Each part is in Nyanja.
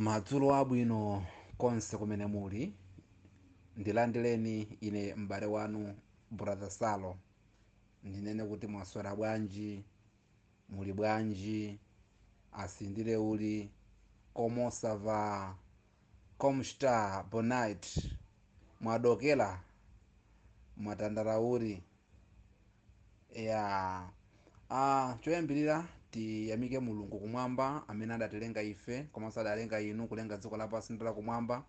madzulo abwino konse kumene muli ndilandireni ine m'bale wanu brother salo ndinene kuti mwaswera bwanji muli bwanji asindire uli como ça va como está bonite mwadokera mwatandala uli ya ah, choyambirira tiyamike mulungu kumwamba amene adatilenga ife komanso adalenga inu kulenga dziko lapansi ndi lakumwamba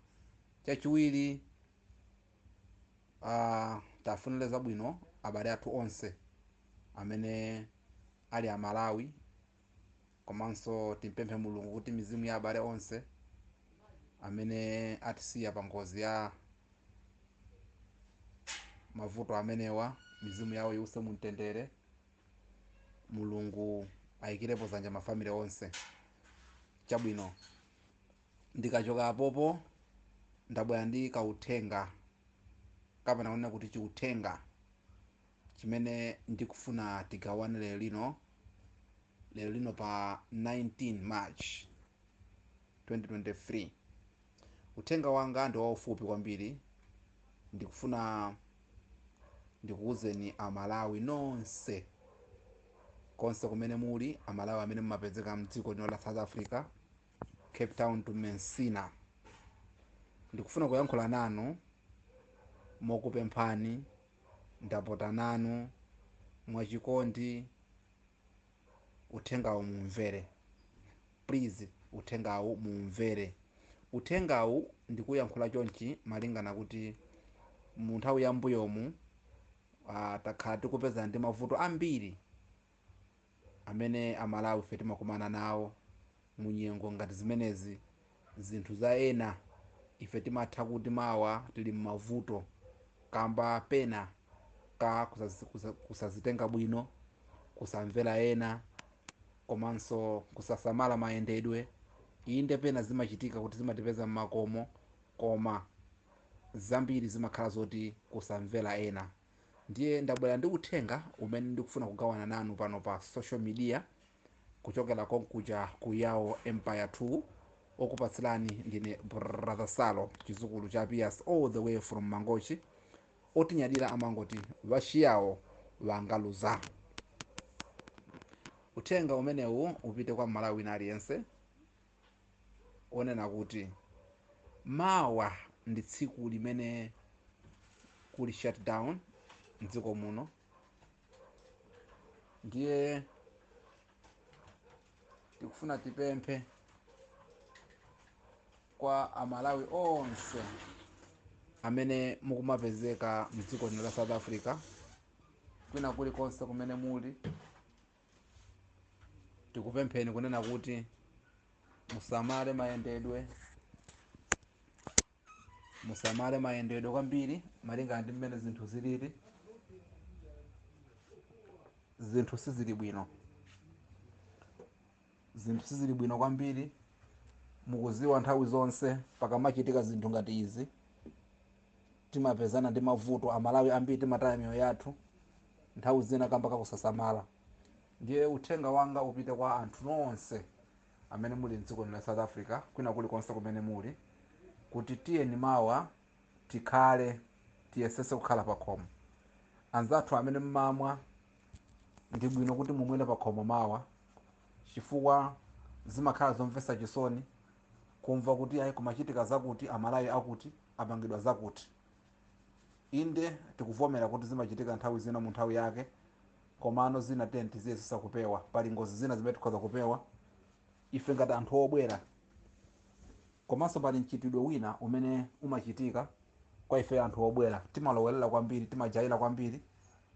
chachiwiri ah, tiwafunire zabwino abale athu onse amene ali amalawi komanso timpemphe mulungu kuti mizimu ya abale onse amene atisiya pa ngozi ya mavuto amenewa mizimu yawo iwuse mumtendere mulungu ayikirepo zanja mafamily onse chabwino ndikachoka apopo ndabwera ndi kauthenga kapena kunena kuti chiuthenga Chimene ndikufuna tigawane lero lino, lero lino pa 19 March 2023, uthenga wanga ndi waufupi kwambiri. Ndikufuna ndikuuzeni a Malawi nonse, konse kumene muli, a Malawi amene mumapezeka m'dziko lino la South Africa, Cape Town to Messina. Ndikufuna kuyankhula nanu mokupemphani. ndapota nanu mwachikondi uthengawu muumvere please uthengawu muumvere uthengawu ndikuyankhula chonchi malingana kuti mu nthawi ya mbuyomu ah, takhala tikupezana ndi mavuto ambiri amene amalawi ife timakumana nawo mu nyengo ngati zimenezi zinthu za ena ife timatha kuti mawa tili mmavuto kamba pena ka kusazitenga bwino kusamvera ena komanso kusasamala mayendedwe inde pena zimachitika kuti zimatipeza mmakomo koma zambiri zimakhala zoti kusamvera ena ndiye ndabwera ndi uthenga umene ndikufuna kugawana nanu pano pa social media kuchokera konkuja ku yao empire 2 okupatsirani ndine brother salo chizukulu cha pias all the way from mangochi otinyadira amangoti vachiyawo vangaluza uthenga umenewu upite kwa m'malawi wina aliyense onena kuti mawa ndi tsiku limene kuli shutdown mdziko muno ndiye tikufuna tipemphe kwa amalawi onse amene mukumapezeka mdziko lino la south africa kwina kulikonse kumene muli tikupempheni kunena kuti musamale mayendedwe musamale mayendedwe kwambiri malingana ndi mmene zinthu zilili zinthu sizili bwino zinthu sizili bwino kwambiri mukuziwa nthawi zonse pakamachitika zinthu ngati izi Timapezana ndi mavuto. Amalawi ambiri timataya miyoyo yathu nthawi zina kamba ka kusasamala. Ndiye uthenga wanga upite kwa anthu nonse amene muli m'dziko lino la South Africa kwina kuli konse kumene muli kuti tiyeni mawa tikhale, tiyesetse kukhala pakhomo. Anzathu amene mumamwa, ndi bwino kuti mumwere pakhomo mawa chifukwa zimakhala zomvetsa chisoni kumva kuti ayi kumachitika zakuti, Amalawi akuti. apangidwa zakuti. Inde, tikuvomera kuti zimachitika nthawi zina mu nthawi yake, komano zina tiyeni tiziyesesa kupewa. Pali ngozi zina zimene tikhoza kupewa ife ngati anthu obwera, komanso pali mchitidwe wina umene umachitika kwa ifeyo anthu obwera. Timalowerera kwambiri, timajaira kwambiri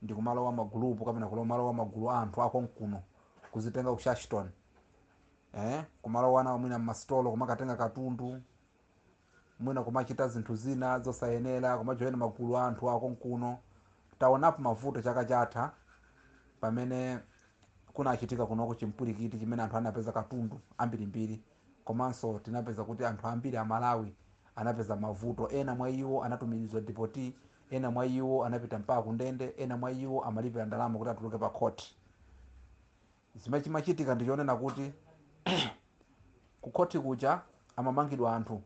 ndi kumalowa ma gulupu kapena kumalowa magulu a anthu akonkuno, kuzitenga ku shashton, eh, kumalowa nawo mwina mmasitolo kumakatenga katundu, mwina kumachita zinthu zina zosayenera, kumajoina magulu a anthu a konkuno. Taonapo mavuto chaka chatha pamene kunachitika kunoko chimpwirikiti chimene anthu anapeza katundu ambirimbiri, komanso tinapeza kuti anthu ambiri Amalawi anapeza mavuto. Ena mwa iwo anatumizidwa depoti, ena mwa iwo anapita mpaka kundende, ena mwa iwo amalipira ndalama kuti atuluke pakhoti. Zimene chimachitika ndi chonena kuti kukhoti kuja amamangidwa anthu,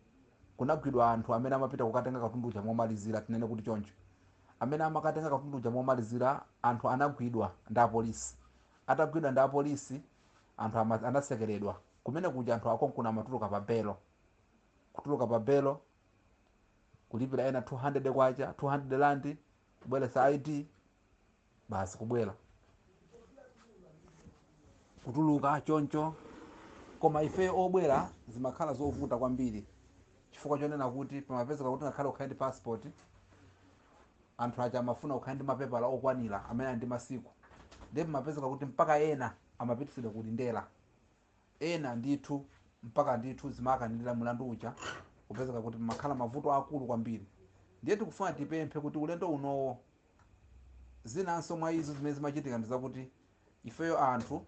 kunagwidwa anthu amene amapita kukatenga katundu uja momalizira, tinene kuti choncho. Amene amakatenga katundu uja momalizira, anthu anagwidwa ndi apolisi. Atagwidwa ndi apolisi, anthu ama, anatsekeredwa. Kumene kuja anthu akonkuno amatuluka pa belo. Kutuluka pa belo, kulipira ena 200 kwacha, 200 rand, kubweretsa ID, basi kubwera kutuluka choncho koma ife obwera zimakhala zovuta kwambiri chifukwa chonena kuti pamapezeka kuti ngakhale ukhale ndi passport anthu aja amafuna ukhale ndi mapepala okwanira amene ali ndi masiku ndiye pamapezeka kuti mpaka ena amapitisidwa ku Lindela ena ndithu mpaka ndithu zimakanilira mlandu uja kupezeka kuti pamakhala mavuto akulu kwambiri ndiye tikufuna tipemphe kuti ulendo unowo zinanso mwa izo zimene zimachitika ndi zakuti ifeyo anthu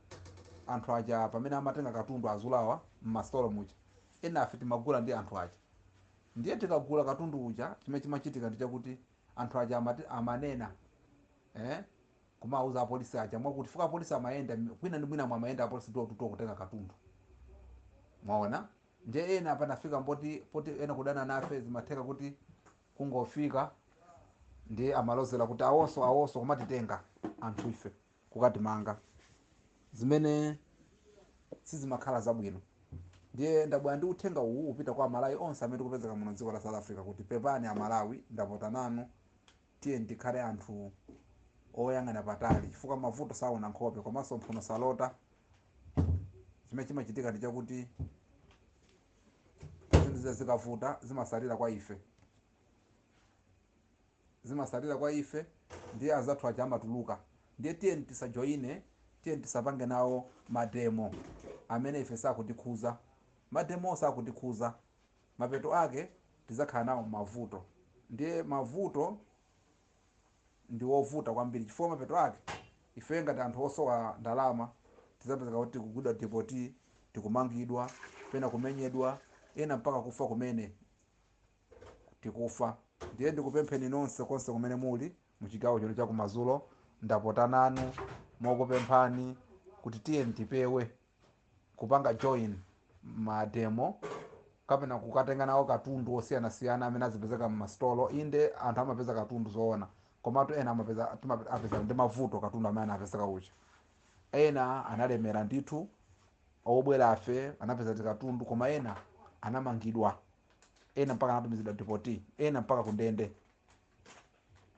anthu aja pamene amatenga katundu azulawa m'masitolo muja enafe timagula ndi anthu aja ndiye tikagula katundu uja chimene chimachitika ndi chakuti anthu aja amati amanena eh, kumawauza apolisi aja mwakuti chifukwa apolisi amayenda m- kwina ndi mwina mwamayenda apolisi door to door kutenga katundu mwaona nde ena panafika poti poti ena kudana nafe zimatheka kuti kungofika ndiye amalozera kuti awonso awonso kumatitenga anthu ife kukatimanga zimene sizimakhala zabwino ndiye ndabwera ndi uthenga uwu upita kwa amalawi onse amene tikupezeka muno dziko la south africa kuti pepani amalawi ndapota nanu Tiyeni tikhale anthu oyang'ana patali chifukwa mavuto saona nkhope komanso mphuno salota. Chimene chimachitika ndi chakuti zinthu zija zikavuta zimasalira kwa ife, zimasalira kwa ife ndiye anzathu aja amatuluka. Ndiye tiyeni tisajoine, tiyeni tisapange nawo mademo amene ife sakutikhuza. Mademowo sakutikhuza mapeto ake tidzakhala nawo mavuto. Ndiye mavuto ndi ovuta kwambiri chifukwa mapeto ake ifeyo ngati anthu osowa ndalama tidzapezeka kuti tikugwidwa depoti, tikumangidwa, pena kumenyedwa, ena mpaka kufa kumene tikufa. Ndiye ndikupempheni nonse konse kumene muli mu chigawo chino cha kumadzulo, ndapota nanu mokupemphani kuti tiyeni tipewe kupanga join mademo kapena kukatenga nawo katundu osiyanasiyana amene azipezeka m'masitolo inde anthu amapeza katundu zoona komatu ena amapeza timape- apeza ndi mavuto katundu amene anapezeka uja ena analemera ndithu obwerafe anapeza tikatundu koma ena anamangidwa ena mpaka anatumizidwa depoti ena mpaka kundende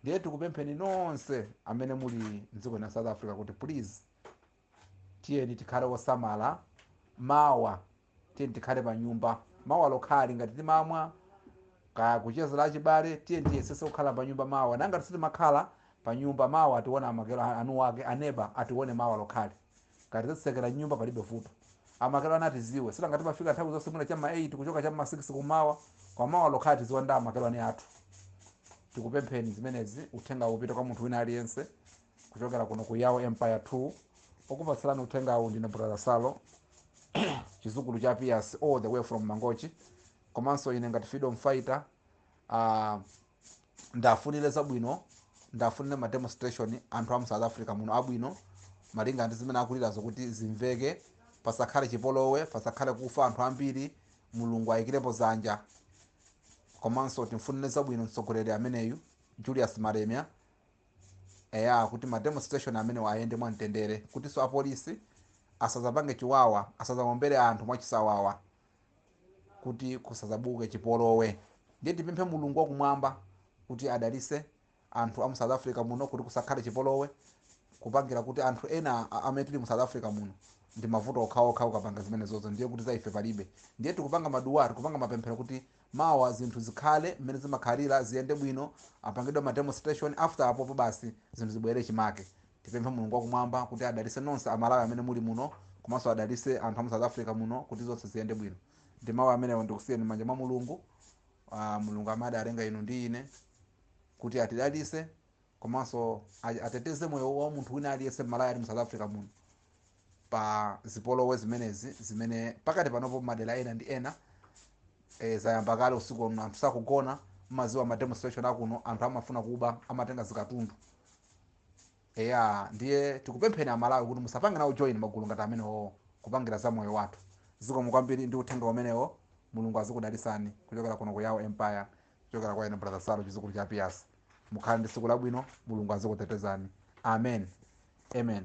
ndiye tikupempheni nonse amene muli mdziko la south africa kuti please Tiyeni tikhale osamala mawa. Tiyeni tikhale panyumba mawa lokhali. Ngati timamwa kaya kuchezera achibale, tiyeni tiyesese kukhala panyumba mawa. Nanga sitimakhala panyumba, mawa atione amakhelwane wake, aneba atione mawa lokhali. Ngati tadzitsekera m'nyumba palibe vuto. Amakhelwane atiziwe. Sinanga timafika nthawi zonse mwina cha m'ma 8 kuchoka cha m'ma 6 kum'mawa. Koma mawa lokhali tiziwane ndi amakhelwane athu. Tikupempheni zimenezi, uthengawu upite kwa munthu wina aliyense. kuchokera kuno ku Yawo Empire 2 okupatsirani uthengawu ndine brother salo chizukulu cha Piyasi all the way from mangochi komanso ine ngati freedom fighter uh, ndafunire zabwino ndafunire ma demonstration anthu amu south africa muno abwino malinga ndi zimene akulirazo kuti zimveke pasakhale chipolowe pasakhale kufa anthu ambiri mulungu ayikirepo zanja komanso timfunire zabwino mtsogoleri ameneyu Julius Malema eya kuti ma demonstration amenewa ayende mwamtendere kutinso apolisi asazapange chiwawa asazawombere anthu mwachisawawa kuti kusazabuke chipolowe ndiye tipemphe mulungu wakumwamba kuti adalise anthu a mu south africa muno kuti kusakhale chipolowe kupangira kuti anthu ena a- amene tili mu south africa muno ndi mavuto okhaokha ukapanga zimenezozo ndiye kuti za ife palibe ndiye tikupanga madua tikupanga mapemphero kuti mawa zinthu zikhale mmene zimakhalira ziyende bwino apangidwe ma demonstration after apopo basi zinthu zibwelere chimake tipemphe mulungu wakumwamba kuti adalise nonse amalawi amene muli muno komanso adalise anthu amu south africa muno kuti zonse ziyende bwino ndi mawu amenewo ndikusiyeni mmanja mwa mulungu uh, mulungu amene adalenga inu ndi ine kuti atidalise komanso a- ateteze moyo wa munthu wina aliyense m'malawi ali mu south africa muno pa zipolowe zimenezi zimene pakati panopo madera ena ndi ena e, zayamba kale usiku uno anthu sakugona mumaziwa ma demonstration akuno anthu amafuna kuba amatenga zikatundu eya ndiye tikupempheni amalawi kuti musapange nawo join magulu ngati amenewo kupangira za moyo wathu zikomo kwambiri ndi uthenga umenewo mulungu azikudalisani kuchokera kuno ku yawo empire kuchokera kwa ine brother salo chizukulu cha Piyasi mukhale ndi tsiku labwino mulungu azikutetezani amen amen